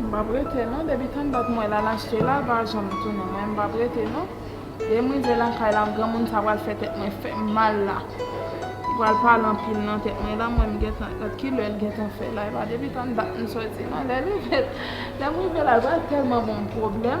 M pap rete non depi tann dat mwen la lachte la pa janm tounen mwen m pap rete non lèm rive lakay la granmoun sa pral fè tèt mwen fèm mal la li pral pale anpil nan tèt mwen la mwen m gentan gad kilè l gentan fè la epa depi tann dat m soti non lèm rive la l pral tèlman banm pwoblèm.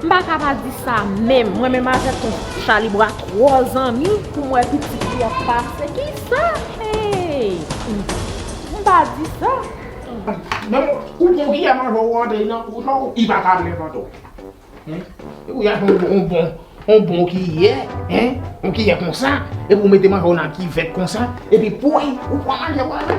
M pa ka pa di sa menm. Mwen menm avèk ton chalibwa twò zanmi pou m wè pitit li ap pase. Ki sa? Hey! M pa di sa. Menm ou pran kiyè manje w ou antre nan bouch ou, li pa ka menm antre w. Epi ou jwenn yon bon, yon bon kiyè, yon kiyè konsa, epi ou mete manje w nan kivèt konsa, epi pouy ou pran manje w ale.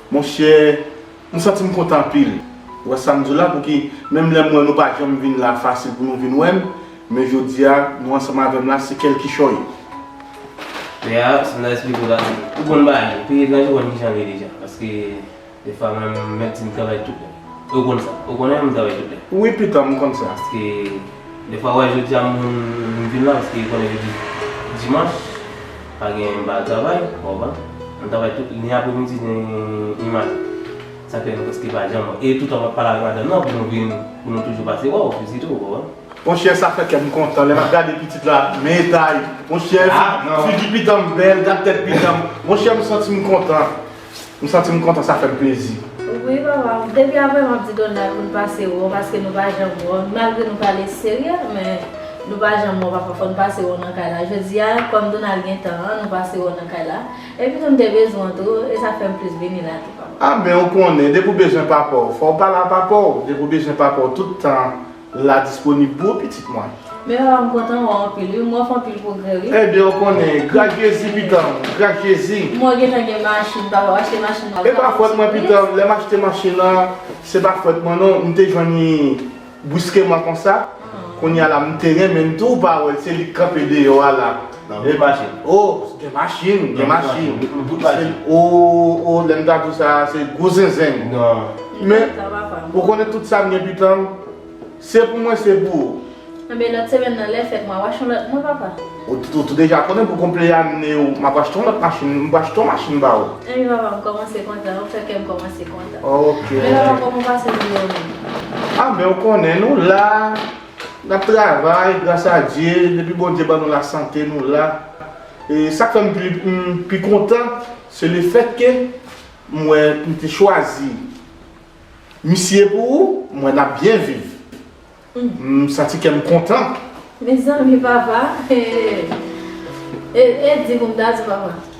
Monchè m santi m kontan anpil wè sa m di w la pouki menm lè m wè nou pa janm vin la fasil pou nou vin wè m men jodi a nou ansanm avè m la se kèl kichòy. Pè a, sa m ta esplike w la, ou konn bagay, peye l nan jou konn kijan l ye deja paske defwa menm m mèt di m travay tout lè e w konn sa, ou konnen m travay tout lè. Wi pitan m konn sa. Paske. Defwa wè jodia moun m vin la paske yo konnen jodi dimanch pa gen m pa al travay ou konprann m travay tout ni apremidi ni mat sa fè nou prèske pa janm wè e toutan map pale avèk madanm nan pou nou vin pou nou toujou pase wè w piti tou ou konprann. Monchè sa fè kèm kontan lè map gade pitit la men etay monchè figi pitanm bèl gad tèt pitanm monchè m santim kontan. M santim kontan sa fèm plezi. Wi papa depi aprè map di Donald poul pase wè w paske nou pa janm wè w malgre nou pale serye men nou pa janm wè w papa fòn pase wè w nan kay la jodia kòm Donald gen tan an nou pase wè w nan kay la epi tou m te bezwen w tou e sa fèm plis vini la tou papa. Amen ou konnen depi w bezwen papa w fò w pale a papa w depi w bezwen papa w tout tan la disponib pou ou pitit mwen. Men papa m kontan wè w anpil wi, m wè w fè anpil pwogrè wi. Ebyen ou konnen, gras Jezi pitanm, gras Jezi. M wè w gentan gen machin papa, w achte machin nan w ka konduit wi. E pa fòt mwen pitanm, lè m achte machin nan, se pa fòt mwen non, m te jwenn li briskeman konsa, kounye a la m te renmen l tou, ou pa wè l, se li k kanpe deyò a la. Nan menm machin. Oh, gen machin, gen machin. Nan tout machin. Oh, oh, lè m ta di w sa, se gwo zenzen m. Nan. Men, ou konnen tout sa m gen pitan m, se pou mwen, se pou ou. Anben, lòt semèn nan, lè fèt, m ap achte yon lòt mwen, papa. Ou tou deja konnen pou konpleyane w, m ap achte yon lòt machin, m ap achte yon machin ba ou. Anben, papa, m kòmanse kontan, ou fè kè m kòmanse kontan. Ok. Men, papa, kòman w pase jounen w menm? Ah, men ou konnen, nou la. Nap travay gras a Dye depi Bondye ban nou la sante nou la e sak fèm pi kontan se le fèt ke m wè m te chwazi misye pou ou m wè nap byen viv m santi kèm kontan. Mezanmi papa e e di pou m ta di papa.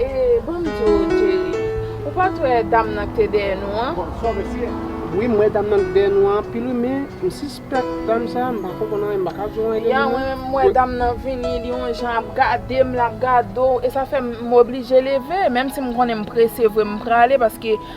Ee bon m di w Jerry, ou pa t wè dam nan k te dèyè nou an? Wi m wè dam nan k dèyè nou an anpil wi men m sispèk dam sa m pa konprann anyen m pa ka di w anyen de li non. Yan mwen menm m wè dam nan vini li yon jan ap gade m l ap gade w e sa fè m oblije leve menm si m konnen m prese vre m prale paske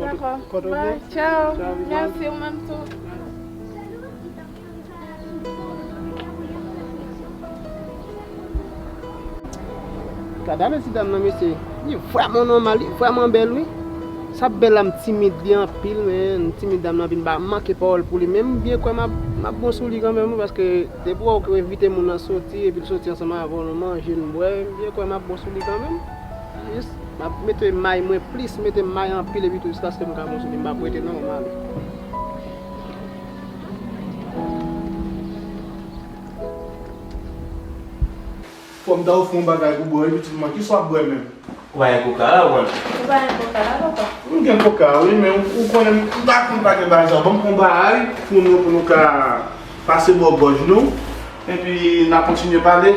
Dako bye tchao merci ou menm tou. Gadame ti dam nan mesye li vreman nomal li vreman bel wi sa bella m timid li anpil men timid dam nan vin ba manke pawol pou li men m byen kwè map bon sou li kanmenm wi paske depi wè w ke w envite moun nan soti epi l soti ansanm avè w nou manje nou bwè m byen kwè map bon sou li kanmenm. Jis map mete may mwen plis mete may anpil epitou jiskaske mka konsome mpa pwete non mwen ale. Fòm ta ofri yon bagay pou bwè wi pitit mwen kisa wap bwè menm? Ou pa gen koka la ou wè l. Ou pa gen koka la papa? M gen koka wi men ou konnen m pa konn pa gen bagay sa yo banm yon baay pou nou pou nou ka pase bò gòj nou epi na kontinye pale.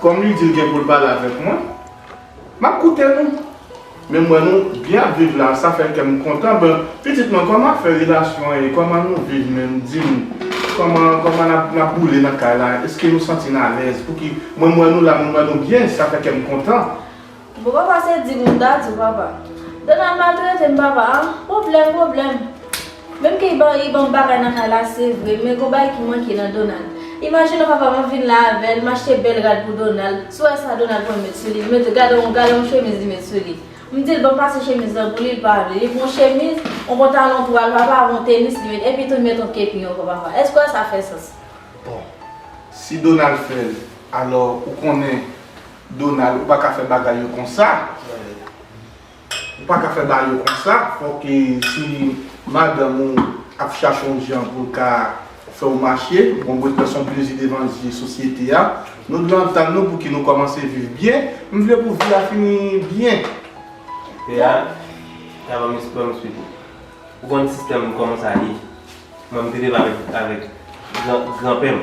Kòm li di l gen pou l pale avèk mwen, m ap koute nou. Men m wè nou byen ap viv la, sa fè kè m kontan. Bon, pitit mwen, kòman afè relasyon an ye? Kòman nou viv menm? Di m, kòman kòman n ap n ap boule nan kay la? Èske nou santi n alèz? Pouki mwen m wè nou la, mwen m wè nou byen, sa fè kè m kontan. Bon papa se di moun ta diw papa. Donald mal tretem papa a, pwoblèm pwoblèm. Menm ke li banm bagay nan kay la se vre men gon bagay ki manke nan Donald. Imajine papam ap vin la avèl, m achte bèl rad pou Donald, sou wè sa Donald pran met sou li, li mete gadon gadon chemiz li met sou li. M dil banm pase chemiz lan pou li, li pa vle. Li pran yon chemiz, yon pantalon twal papa avè yon tenis li met epi tou li met yon kepi ankò papa. Èske wè sa fè sans? Bon si Donald fèl alò ou konnen Donald ou pa ka fè bagay yo konsa ou pa ka fè bagay yo konsa fòk e si madanm ou ap chache yon jan pou l ka fè w mache bon mwen kwè son plezi devan zye sosyete a nou dwe antann nou pouki nou kòmanse viv byen m vle pou vi a fini byen Pea Pea banm es banm esplike ou konn sistèm m kòman sa ye mwen m te leve avèk avèk gran gran pè m.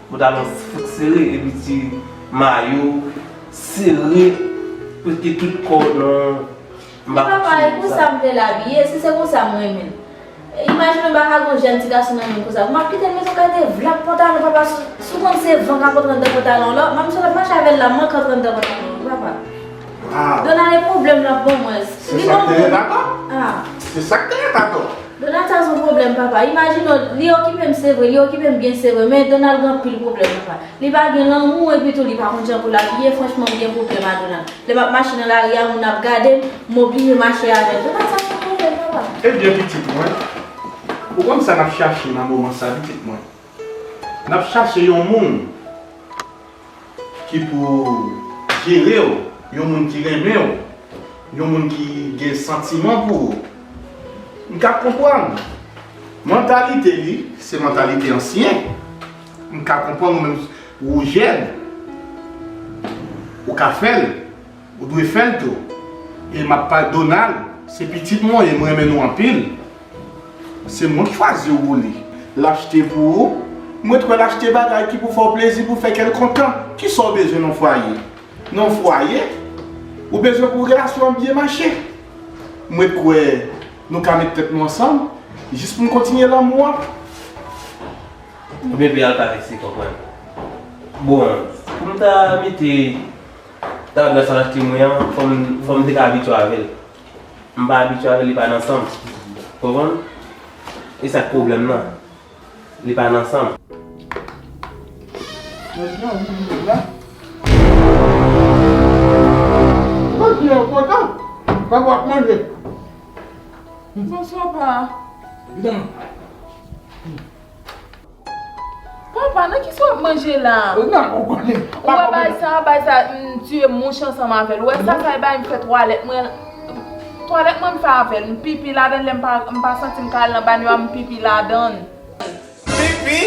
Pantalon fout sere epi ti mayo sere prèske tout kò w nan Ti papa e konsa m vle l abiye si se konsa m renmen l Imajine w baka gon jèn ti gason nan men m konsa Map kite l met yon kalite vlap pantalon papa si w konn se van kap antre anndan pantalon w la Manmi sa w tap mache avè l la mank antre anndan pantalon w papa. Donald e pwoblèm lap ban mwen. Se sak te ret atò. Se sak te ret atò. Donald sa son pwoblèm papa. Imajine w li okipe m se vre, li okipe m byen se vre men Donald gen anpil pwoblèm papa. Li pa gen lanmou epi tou li pa konn jan pou l abiye franchman m gen pwoblèm a Donald. Lè map mache nan lari a moun ap gade m, m oblije mache avè l. Donald sa son pwoblèm papa. Ebyen pitit mwen, ou konn sa nap chache nan moman sa pitit mwen. Nap chache yon moun. Ki pou jere w, yon moun ki renmen w, yon moun ki gen santiman pou ou. M ka konprann. Mantalite li, se mantalite ansyen. M ka konprann ou menm, ou jèn. Ou ka fè l. Ou dwe fel tou. E map pal Donald se pitit mwen e m renmen nou anpil. Se mwen k chwazi w li. L achte pou ou. Mwen t kwè l achte bagay ki pou fè w plezi pou fè kè l kontan. Kisa w bezwen nan fwaye? Nan fwaye? Ou bezwen pou relasyon an byen mache. Mwen t kwè nou ka met tèt nou ansanm jis pou n kontinye lanmou an. Bebe al pa vin si konprann. Bon pou m ta mete. Tandans an achte mwen an, fò m te ka abitye avè l. M pa abitye avè l, li pa nan san m. Ou konprann? E sa k pwoblèm nan. Li pa nan san m. Bonswa, pa. Papa nan kisa wap manje la. Ou nan ou konnen. Ou wè bay sa a bay sa a m tiye mouche ansanm avè l ou wè sa sa e bay m fè twalèt mwen twalèt mwen m fè avè l m pipi ladan l lè m pa santi m ka al nan banyo a m pipi ladan l. Pipi?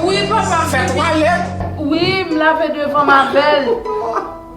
Wi papa m pipi. Fè twalèt? Wi m lave devan m avè l.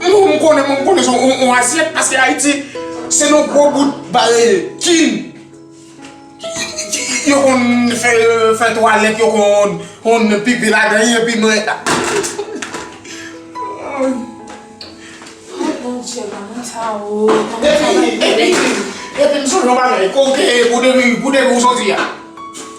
Mwen konnen mwen konnen son on asyèt paske Ayiti se yon gwo bout bare kin yo konn fè twalèt yo konn pipi ladan li epi mwen Ay Bondye manman sa oo Epi epi epi m sonje yon bagay kote pou depi ou soti a.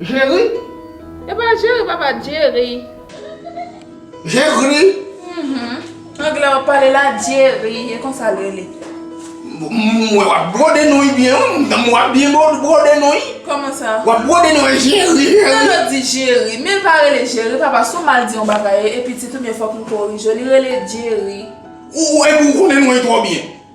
Jerry. Epa Jerry papa Jerry. Jerry. Anglè wap pale la Jerry e konsa l rele. M wè wap brode non wi byen wi. M wap byen brode non wi. Koman sa? Wap brode non wi Jerry. Nan yo di Jerry. Men l pa rele Jerry papa si w mal di yon bagay e pitit ou byen fok nou korije w li rele Jerry. Ou wè epi w konnen non e twò byen.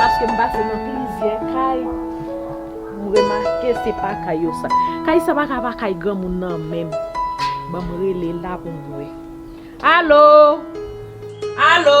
Paske m pase nan plizyè kay, m remake se pa kay yo sa. Kay sa pa ka pa kay granmoun nan menm. Ban m rele la pou m wè. Alo! Alo!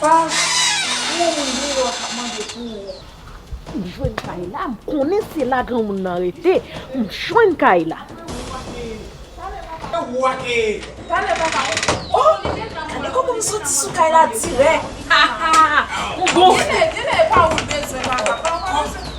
Granmoun vini wè w kap mande pou ou. M jwenn kay la, m konnen se la granmoun nan rete. M jwenn kay la. Talè papa m. Oh! Gade kòman m soti sou kay la dirèk. Haha! M gonfle.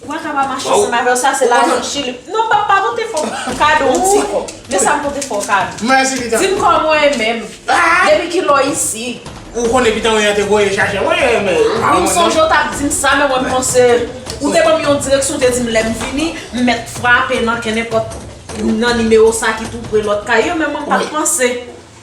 Ou pa ka pa mache ansanm avèl sa se lajan chili non pap pa pote fòm kado yon ti kòb men sam pote fòw kado mèsi pitanm dim kòman ou ye menm depi kilè ou isi ou konnen pitanm yon te voye chache mwen wi m sonje ou tap dim sa men mwen panse ou te banm yon direksyon ou te dim lèm vini m mèt frape nan kennenpòt nan nimewo sa ki tou pre lòt kay yo men mwen pat panse.